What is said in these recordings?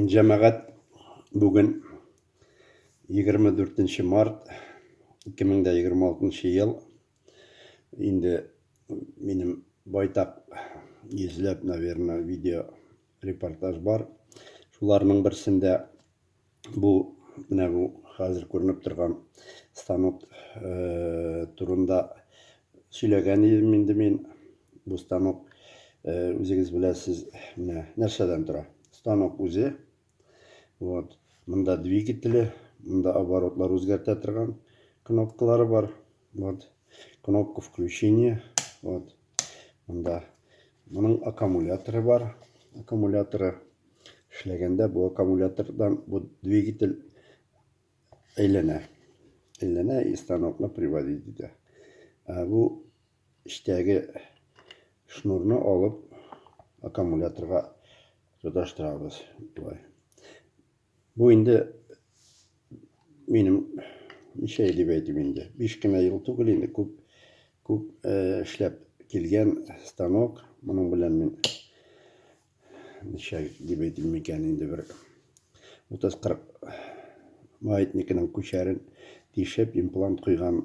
Җәмәгать бүген 24 март 2026 ел. Инде минем байтак йөзләп, наверное, видео репортаж бар. Шуларның берсендә бу менә бу хәзер күренеп торган станок турында сөйләгән идем инде мин. Бу станок үзегез беләсез, менә нәрсәдән тора. Станок үзе. Вот. Монда двигателе, монда оборотлар үзгәртә торган кнопкалары бар. Вот. Кнопка включения. Вот. Монда моның аккумуляторы бар. Аккумуляторы эшләгәндә бу аккумулятордан бу двигатель әйләнә. Әйләнә и станокны приводить итә. Ә бу эчтәге шнурны алып аккумуляторга тоташтырабыз. Болай. Бу инде минем ничә дип әйтим инде. Биш кенә ел түгел инде, күп күп э, эшләп килгән станок. Моның белән мин ничә дип әйтим микән инде бер 30-40 маятникның күчәрен тишеп, имплант куйган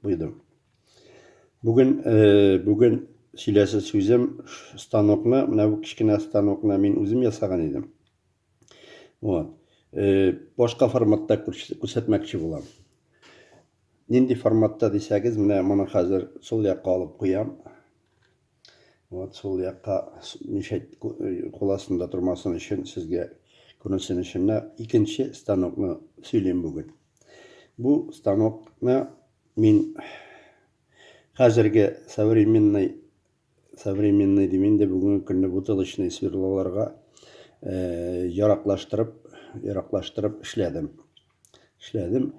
куйдым. Бүген э, бүген сөйләсе сүзем станокны, менә бу кечкенә станокны мин үзем ясаган идем. Вот. Э, башка форматта күрсәтмәкче булам. Нинди форматта дисәгез, менә моны хәзер сул якка алып куям. Вот сул якка мишәт куласында тормасын өчен сезгә күренсен өчен икенче станокны сөйлим бүген. Бу станокны мин хәзерге современный современный дим инде, бүгенге көнне бутылочный сверлоларга яраклаштырып, яраклаштырып эшләдем. Эшләдем.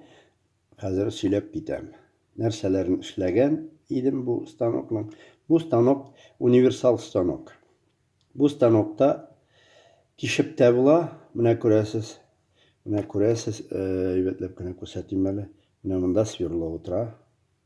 Хәзер сөйләп китәм. Нәрсәләрен эшләгән идем бу станокның? Бу станок универсал станок. Бу станокта тишеп тә була, менә күрәсез. Менә күрәсез, әйбәтләп кенә күрсәтим әле. Менә монда сверло утыра.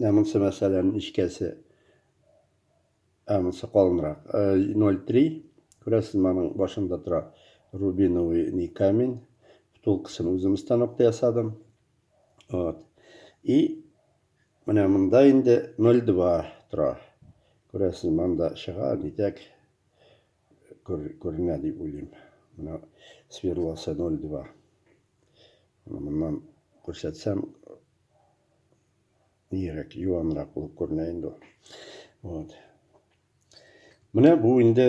Ә монсы, мәсәлән, нечкәсе. Ә монсы калынрак. 0,3. Күрәсез, моның башында тора рубиновый ни камень. Втулкасын үзем станокта ясадым. Вот. И менә монда инде 0,2 тора. Күрәсез, монда чыга, нитәк күренә дип уйлыйм. Менә сверлосы 0,2. Моннан күрсәтсәм, Нирәк, юанрак булып күренә инде ул. Вот. Менә бу инде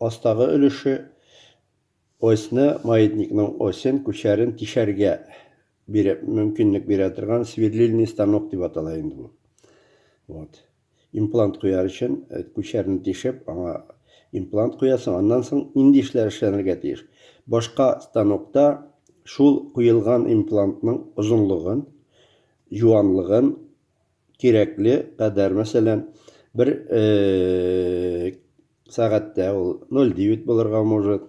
астагы өлеше осьны, маятникның осен, күчәрен тишәргә бирә, мөмкинлек бирә торган сверлильный станок дип атала инде бу. Вот. Имплант куяр өчен, күчәрне тишеп, аңа имплант куясың, аннан соң нинди эшләр эшләнергә тиеш? Башка станокта шул куелган имплантның озынлыгын, юанлыгын кирәкле кадәр, мәсәлән, бер сәгатьтә ул 0,9 булырга может,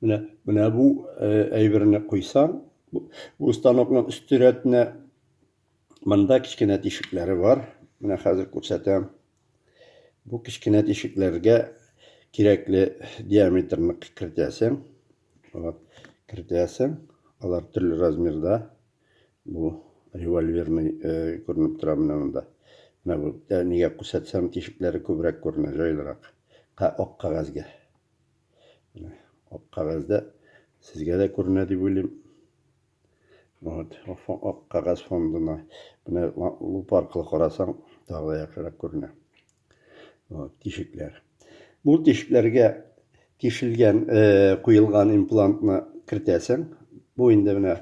Менә, менә бу әйберне куйсаң, бу станокның өсте рәтенә монда кечкенә тишекләре бар. Менә хәзер күрсәтәм. Бу кечкенә тишекләргә кирәкле диаметрны кертәсең. Вот, кертәсең. Алар төрле размерда. Бу револьверный күренеп тора менә монда. Менә бу нигә күрсәтсәм тишекләре күбрәк күренә, җайлырак. Ак кагазьгә. Ак кәгазьдә сезгә дә күренә дип уйлыйм. Вот, ак кәгазь фондына менә луп аркылы карасаң, тагы да яхшырак күренә. Вот, тишекләр. Бу тишекләргә тишелгән, э, куелган имплантны кертәсең. Бу инде менә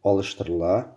алыштырыла.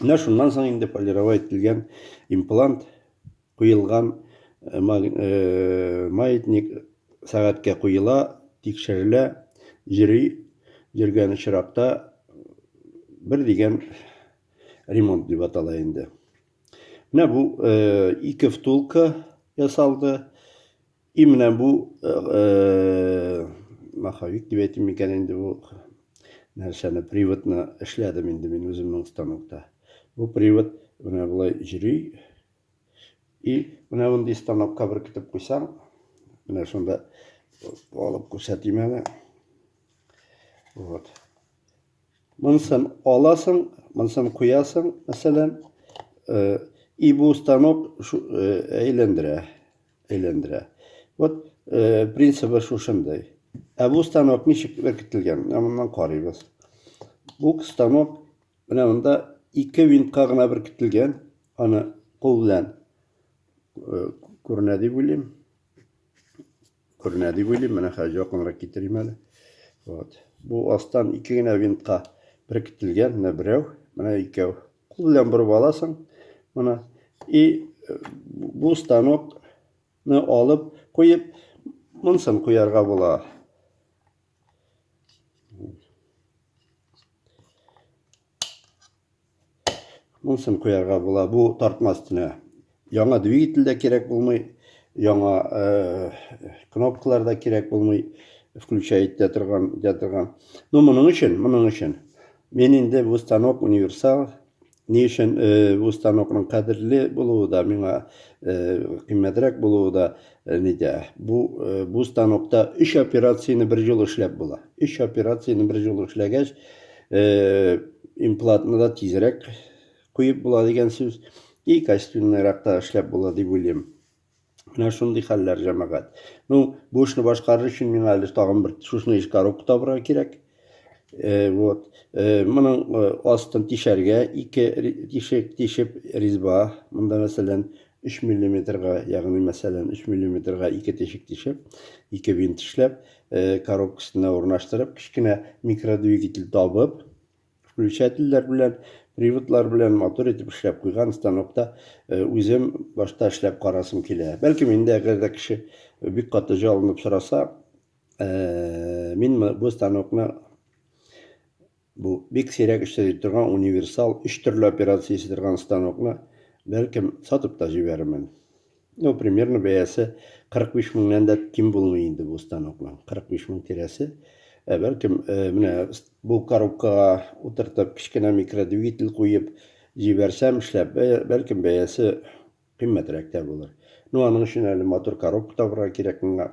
Менә шуннан соң инде полировать ителгән имплант куелган э, э, маятник сәгатькә куела, тикшерелә, йөри, йөргән очракта бер дигән ремонт дип атала инде. Менә бу э, ике втулка ясалды. И менә бу маховик дип әйтим микән инде бу нәрсәне приводны эшләдем инде мин үземнең станокта. Бу привод менә болай йөри. И менә мондый станокка беркетеп куйсаң, менә шунда алып күрсәтим әле. Вот. Монсын аласың, монсын куясың, мәсәлән, и бу станок әйләндерә. әйләндерә. Вот э, принцибы шушындый. Ә бу станок ничек беркетелгән? Менә моннан карыйбыз. Бу станок менә монда ике винтка гына беркетелгән. Аны кул белән э, күренә дип уйлыйм. Күренә дип уйлыйм. Менә хәзер якынрак китерим әле. Вот. Бу астан ике генә винтка беркетелгән. Менә берәү, менә икәү. Кул белән борып аласың. Моны и бу станокны алып куеп, монсын куярга була. Монсын куярга була бу тартма өстенә. Яңа двигатель дә кирәк булмый, яңа кнопкалар да кирәк булмый, включай итә торган, итә торган. Ну, моның өчен, моның өчен. Мин инде бу станок универсал. Ни өчен бу станокның кадерле булуы да миңа кыйммәтрәк булуы да нидә? Бу бу станокта 3 операцияне бер җыл эшләп була. 3 операцияне бер җыл эшләгәч, имплантны да тизрәк куеп була дигән сүз и качественныйрак та эшләп була дип уйлыйм. Менә шундый хәлләр, җәмәгать. Ну, бу эшне башкарыр өчен миңа әле тагын бер шушны еш коробка табырга кирәк. Э, вот. Э, моның э, астын тишәргә ике тишек тишеп резьба. Монда, мәсәлән, 3 миллиметрга, ягъни, мәсәлән, 3 миллиметрга ике тишек тишеп, ике винт эшләп, коробкасына урнаштырып, кечкенә микродвигатель табып, Включательләр белән, приводлар белән матур итеп эшләп куйган станокта э, үзем башта эшләп карасым килә. Бәлкем инде әгәр дә кеше бик каты җалынып сораса, э, мин бу станокны бу бик сирәк эшләп торган универсал өч төрле операция итә торган станокны бәлкем сатып та җибәрермен. Ну, примерно бәясе 45 меңнән дә ким булмый инде бу станокның. 45 мең тирәсе. Ә бәлкем, э, менә бу коробкага утыртып, кечкенә микродвигатель куеп җибәрсәм эшләп, бәлкем бәясе кыйммәтрәк тә булыр. Ну, аның өчен әле матур коробка табырга кирәк миңа.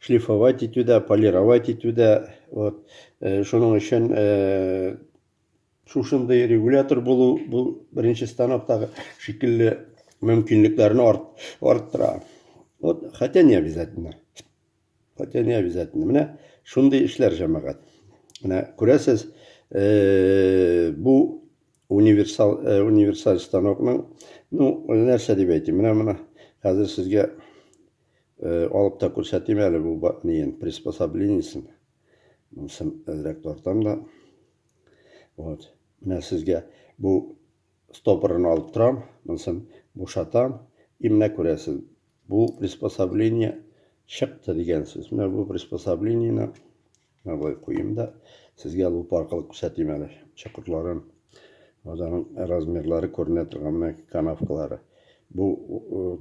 шлифовать итүдә, полировать итүдә, вот, э, шуның өчен э, шушындый регулятор булу, бу беренче станоктагы шикелле мөмкинлекләрне арт, арттыра. Вот, хотя не обязательно. Хотя не обязательно. Менә шундый эшләр җәмәгать. Менә күрәсез, э, бу универсал, э, универсаль станокның, ну, нәрсә дип әйтим, менә менә хәзер сезгә Алып та күрсәтим әле бу ниен, приспособлениясен. Монысын әзрәк тартам да. Вот. Менә сезгә бу стопорын алып торам, монысын бушатам. И менә күрәсез, бу приспособление чыкты дигән сүз. Менә бу приспособленияне Менә болай куйыйм да, сезгә лупа аркылы күрсәтим әле чокырларын. Вот аның размерлары күренә торган менә канавкалары. Бу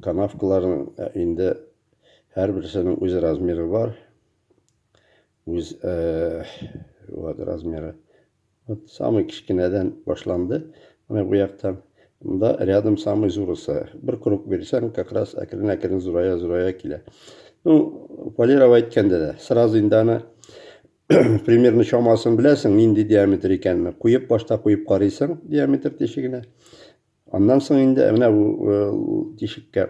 канавкаларның э, инде һәрберсенең үз размеры бар. Үз э, вот размеры. Вот самый кечкенәдән башланды. Менә бу яктан. Монда рядом самый зурысы. Бер круг бирсәң, как раз әкрен-әкрен зурая-зурая килә. Ну, полировать әйткәндә дә, сразу инде аны примерно чамасын беләсең, нинди диаметр икәнен. Куеп башта куеп карыйсың диаметр тишегенә. Аннан соң инде менә бу э, тишеккә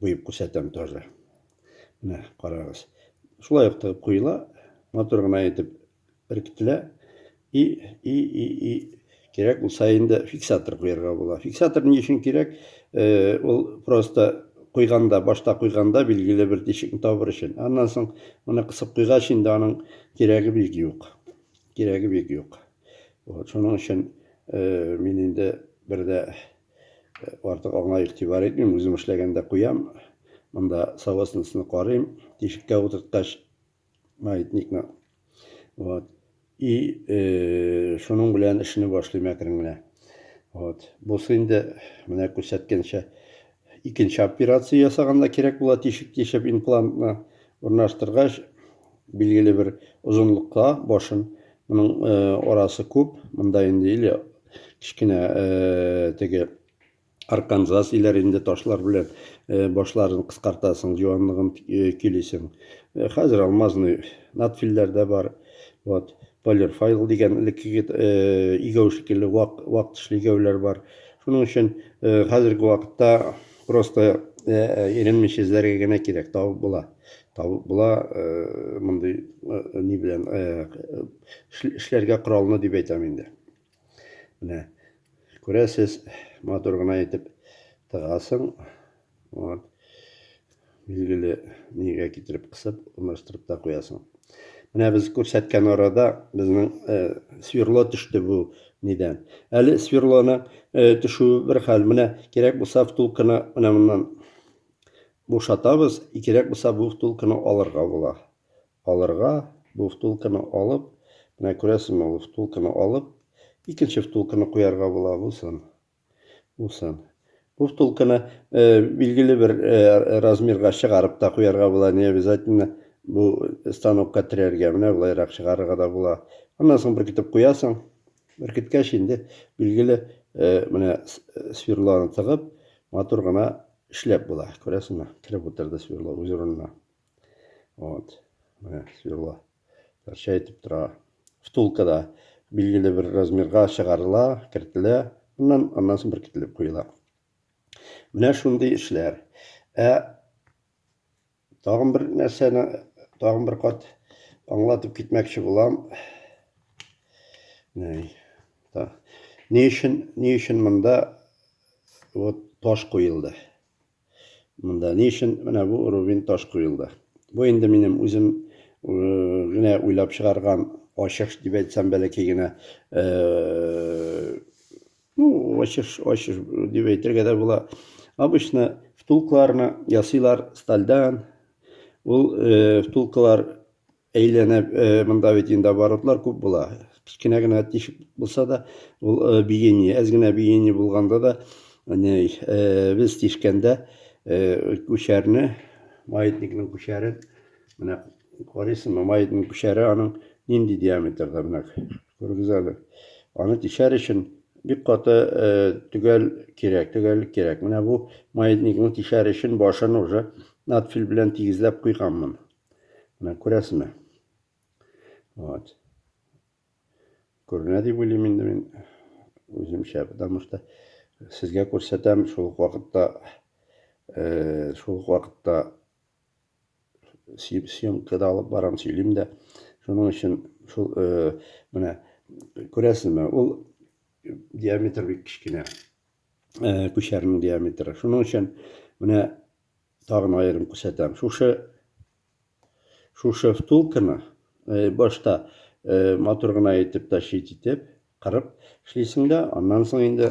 Куеп күрсәтәм тоже. Менә карагыз. Шулай ук тыгып куела, матур гына итеп беркетелә. И и и и кирәк булса инде фиксатор куярга була. Фиксатор ни өчен кирәк? Э, ул просто куйганда, башта куйганда билгеле бер тишекне табыр өчен. Аннан соң моны кысып куйгач инде аның кирәге бик юк. Кирәге бик юк. Вот, шуның өчен э, мин инде бер дә Артык аңа игътибар итмим, үзем эшләгәндә куям. Монда савасныйсны карыйм, тишеккә утырткач, маятникны. Вот. И э, шуның белән эшне башлыйм әкрен генә. Вот. Бусы инде менә күрсәткәнчә икенче операция ясаганда кирәк була тишек тишеп имплантны урнаштыргач Билгеле бер озынлыкта башын. Моның арасы күп. Монда инде или кечкенә теге арканзас иләр инде ташлар белән башларын кыскартасың, җуанлыгын көйлисең. Хәзер алмазный надфилләр дә бар. Вот. Полерфайл дигән элеккеге э, игәү шикелле вак, вак тишле игәүләр бар. Шуның өчен э, хәзерге вакытта просто иренмичә э, эзләргә генә кирәк, табып була. Табып була мондый ни белән эшләргә коралны дип әйтәм инде. Менә күрәсез, матур гына итеп тыгасың. Вот. Билгеле, нигә китереп кысып, урнаштырып та куясың. Менә без күрсәткән арада безнең э, сверло төште бу нидән. Әле сверлоны э, төшүе бер хәл. Менә кирәк булса втулканы менә моннан бушатабыз, и кирәк булса бу втулканы алырга була. Алырга, бу втулканы алып, менә күрәсезме, бу втулканы алып, икенче втулканы куярга була булсын. Булсын. Бу втулканы билгеле бер размерга чыгарып та куярга була, не обязательно бу станокка терәргә, менә болайрак чыгарырга да була. Аннан соң беркетеп куясың. Беркеткәч инде билгеле менә сверлоны тыгып, матур гына эшләп була. Күрәсеңме? Кереп утырды сверло үз урынына. Вот. Менә сверло. Нәрсә әйтеп тора? Втулка да билгеле бер размерга чыгарыла, кертелә, аннан аннан соң беркетелеп куела. Менә шундый эшләр. Ә тагын бер нәрсәне, тагын бер кат аңлатып китмәкче булам. Ни өчен, ни өчен монда вот таш куелды? Монда ни өчен менә бу рубин таш куелды? Бу инде минем үзем генә уйлап чыгарган ачыш дип әйтсәм бәләкәй генә ну ачыш ачыш дип әйтергә дә була обычно втулкаларны ясыйлар стальдан ул втулкалар Әйләнеп, монда бит инде оборотлар күп була. Кечкенә генә тишек булса да, ул биение, әз генә биение булганда да, без тишкәндә күчәрне, маятникның күчәрен, менә карыйсыңмы, маятник күчәре аның нинди диаметрда, менә күрегез әле. Аны тишәр өчен бик каты төгәл кирәк, төгәллек кирәк. Менә бу маятникның тишәр өчен башын уже надфиль белән тигезләп куйганмын. Менә күрәсезме? Вот. Күренә дип уйлыйм инде мин үземчә, потому что сезгә күрсәтәм, шул ук вакытта э, шул ук вакытта съемка да алып барам, сөйлим дә. Шуның өчен шул э, менә күрәсезме, ул диаметр бик кечкенә. Э, күчәрнең диаметры. Шуның өчен менә Тагын аерым күрсәтәм. Шушы шушы втулканы э, башта э, матур гына итеп тащить итеп, кырып эшлисең дә, аннан соң инде